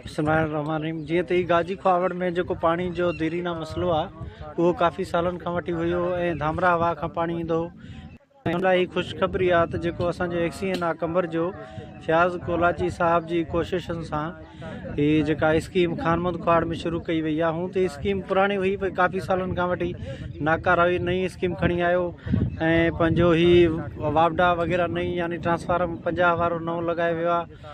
بسم الله الرحمن الرحيم جيئن ته هي گاجي کواوڙ ۾ جيڪو پاڻي جو ديرينا مسئلو آهي اهو ڪافي سالن کان وٺي هيو ۽ ڌامراهه واهه کان پاڻي ايندو هو ان لاء هي خوشخبري آهي ته جيڪو اسان جو ايڪسي اين آ قمبر جو فياض ڪولاچي صاحب جي ڪوششن سان هي جيڪا اسڪيم خانمند کواڙ ۾ شروع ڪئي وئي آهي هون ته اسڪيم پراڻي هئي پر ڪافي سالن کان وٺي ناڪاره هئي نئين اسڪيم کڻي آيو ۽ پنهنجو هي واپڊا وغيره نئين يعني ٽرانسفارم پنجاهه وارو نئون لڳايو ويو آهي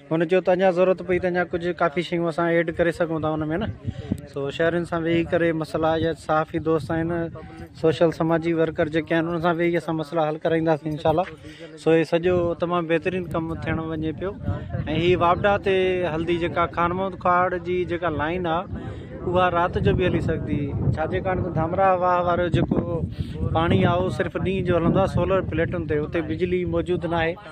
هن چيو ته اڃا ضرورت پئي ته اڃا ڪجهه ڪافي شيون اسان ايڊ ڪري سگهون ٿا ان ۾ نه سو شهرين سان ويهي ڪري مسئلا يا صحافي دوست آهن سوشل سماجي ورڪر جيڪي آهن انهن سان ويهي اسان مسئلا حل ڪرائينداسين انشاء الله سو هي سڄو تمام بهترين ڪم ٿيڻ وڃي پيو ۽ هي واپڊا تي هلدي جيڪا خان محمد کاڙ جي جيڪا لائن آهي اها رات جو به هلي سگهندي ڇا جي ڪارڻ ته ڌامرا واهه وارو جيڪو پاڻي آهي اهو صرف ڏينهن جو هلندو آهي سولر پليٽن تي اتي بجلي موجود ناهي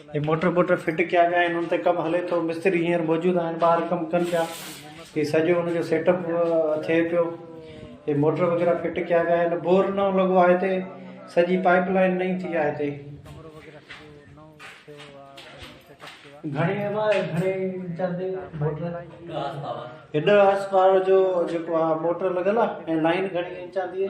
هي موٽر بوٽر فٽ ڪيا ويا آهن ان تي ڪم هلي ٿو مستري هينئر موجود آهن ٻاهر ڪم ڪن پيا هي سڄو ان جو سيٽ اپ ٿئي پيو هي موٽر وغيره فٽ ڪيا ويا آهن بور نئون لڳو آهي هتي سڄي پائپ لائن نئين ٿي آهي هتي گهڻي گهڻي چاندي موٽر هيڏا هاس پاور جو جيڪو موٽر لڳل آهي ۽ لائن گهڻي چاندي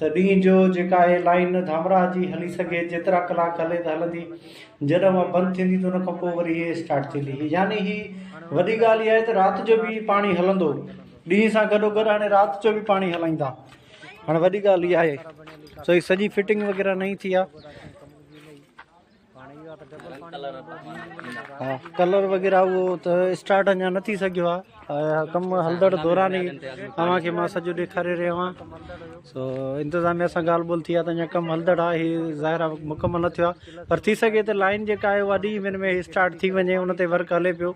ته ڏينهن جو جيڪا هي لائين ڌامراهه جي هلي سگهي جيترا ڪلاڪ هلي ته هلندي جڏهن اها بند ٿيندي ته ان کان پوء وري هي اسٽارٽ ٿيندي هي يعني هي وڏي ڳالهه اها آهي ته رات جو به پاڻي هلندو ڏينهن سان گڏو گڏ هاڻي رات جو به پاڻي هلائيندا هاڻي وڏي ڳالهه اها آهي سو هي سڄي فٽنگ وغيره نئين ٿي آهي ڪلر وغيره اهو ته اسٽارٽ اڃا نه ٿي سگهيو آهي ڪم هلندڙ دوران ئي اوهان کي مان سڄو ڏيکاري رهيو آهيان سو انتظاميا سان ڳالهه ٻولهه ٿي آهي ته اڃا ڪم هلندڙ آهي هي ظاهر آهي مڪمل نه ٿيو آهي پر ٿي سگهي ته لائن جيڪا آهي اها ڏهين مهيني ۾ اسٽارٽ ٿي وڃي ان تي ورڪ هلي پيو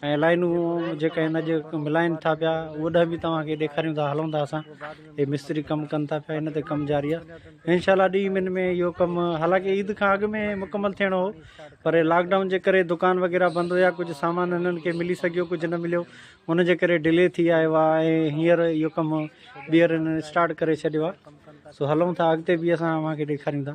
۽ لائينون جيڪا هن اڄ ملائن ٿا پيا اوڏانهن به توهان کي ڏيکاريون ٿا هلون ٿا اسان هي مستري ڪم ڪن ٿا پيا هن تي ڪم جاري آهي انشاء الله ڏينهن ٻن ۾ اهو ڪم حالانڪه عيد کان اڳ ۾ مڪمل ٿيڻو هو پر لاڪ ڊائون جي ڪري دڪان وغيره بند هيا ڪجهه سامان هنن کي ملي سگهيو ڪجهه نه مليو ان جي ڪري ڊلي ٿي آيو آهي ۽ هينئر اهو ڪم ٻيهر هنن اسٽارٽ ڪري ڇڏيو آهي سو هلون ٿا اڳتي به اسان اوهان کي ڏيکاريون ٿا